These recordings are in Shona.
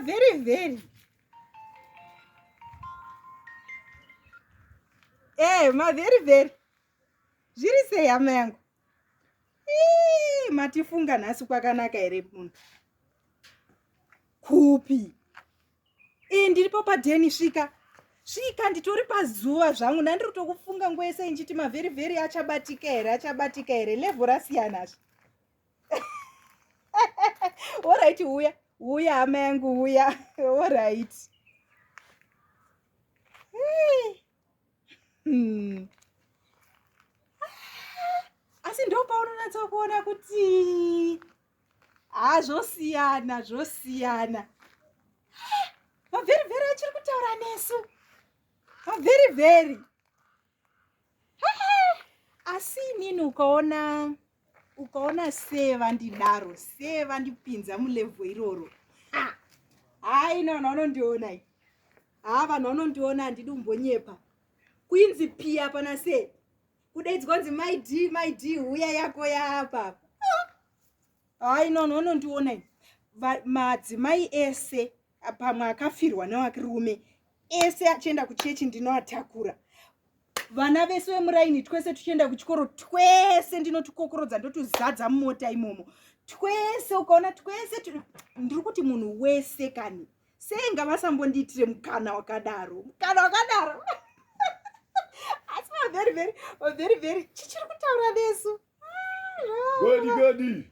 very very eh ma very very zviri sei hama yangu Ii, matifunga nhasi kwakanaka here munhu kupi ii ndiripo padeni svika svika nditori pazuva zvangu ndandiri tokufunga nguva yese inchiti mavheri vheri achabatika here achabatika here levho rasiyana zve orit uya uya hama yangu uya orit hmm. asi ndopaunonatsa kuona kuti haa zvosiyana zvosiyana mavheri vheri achiri kutaura nesu mavheri vheri asi inini ukaona ukaona sei vandidaro sei vandipinza mulevho iroro hayi ina vanhu vanondiona i haa vanhu vanondiona handidi umbonyepa kuinzi piya pana sei kudaidzwa kunzi my d my d huya yako yaapapa hayi nono unondiona madzimai ese pamwe akafirwa newakirume ese achienda kuchechi ndinoatakura vana vese vemuraini twese tuchienda kuchikoro twese ndinotukokorodza ndotuzadza mumota imomo twese ukaona twese ndiri kuti munhu wese kani sei ngavasambondiitire mukana wakadaro mukana wakadaro asi vavery very very very chichiri kutaura vesu godi godi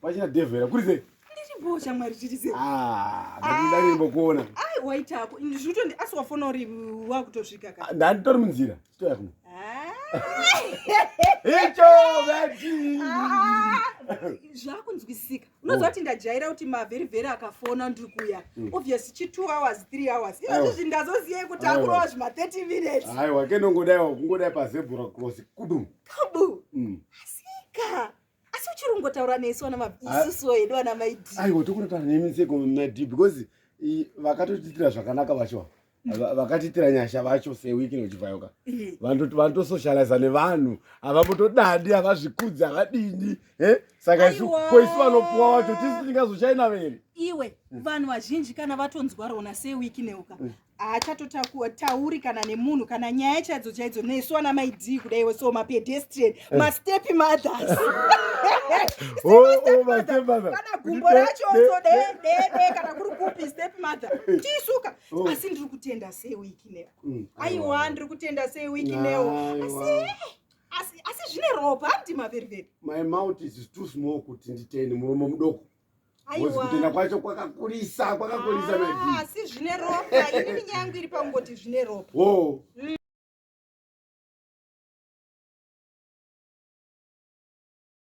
Pachina devera kuri sei? Ndiripo shamwari tiri sei? Ah, ndari ah. mbokuona. Ai waita hako. Ndizvitondi asi wafona uri wakutosvika ka. Ah, ndani tori munzira. Chitoya kuno. Ah. Icho vati. Zvakunzwisika. Unoziva kuti ndajaira kuti mavheri vheri akafona ndiri kuya. Hmm. Obviously chi 2 hours, 3 hours. Ivo zvi ndazoziva kuti akurova zvima 30 minutes. Aiwa, kenongodai wakungodai pa zebra cross. Kudu. Kudu. Mm. Asi asi uchiri kungotaura nesu ana maisusu ah. hedu ana maidi aiwa tokunotaura nemi seko madi because vakatotiitira zvakanaka vacho vakatiitira nyasha vacho sewiki nochivhayoka vanotosocializa nevanhu havambotodadi havazvikudzi havadini e saka ko isu vanopuwa wacho tisi tingazochaina vere iwe vanhu vazhinji kana vatonzwa rona sewiki neuka mm. haachatotauri kana nemunhu kana nyaya chaidzo chaidzo nesu ana maidii kudaiwo so mapedestrian eh. mastepi mothers oh, oh, kana gumbo racho so deedee kana kuri kupi step mother eh. tiisuka oh. asi ndiri kutenda sei wiki neo mm, aiwa ndiri kutenda sei wiki neo asi asi zvine ropa handima veriveri my mouth is too small kuti nditeni muromo mudoko Aiwa. Kutenda kwacho kwakakurisa, kwakakurisa na Dee. Ah, si zvine ropa. Ini nyaya yangu iri pangoti zvine ropa. Oh. Mm.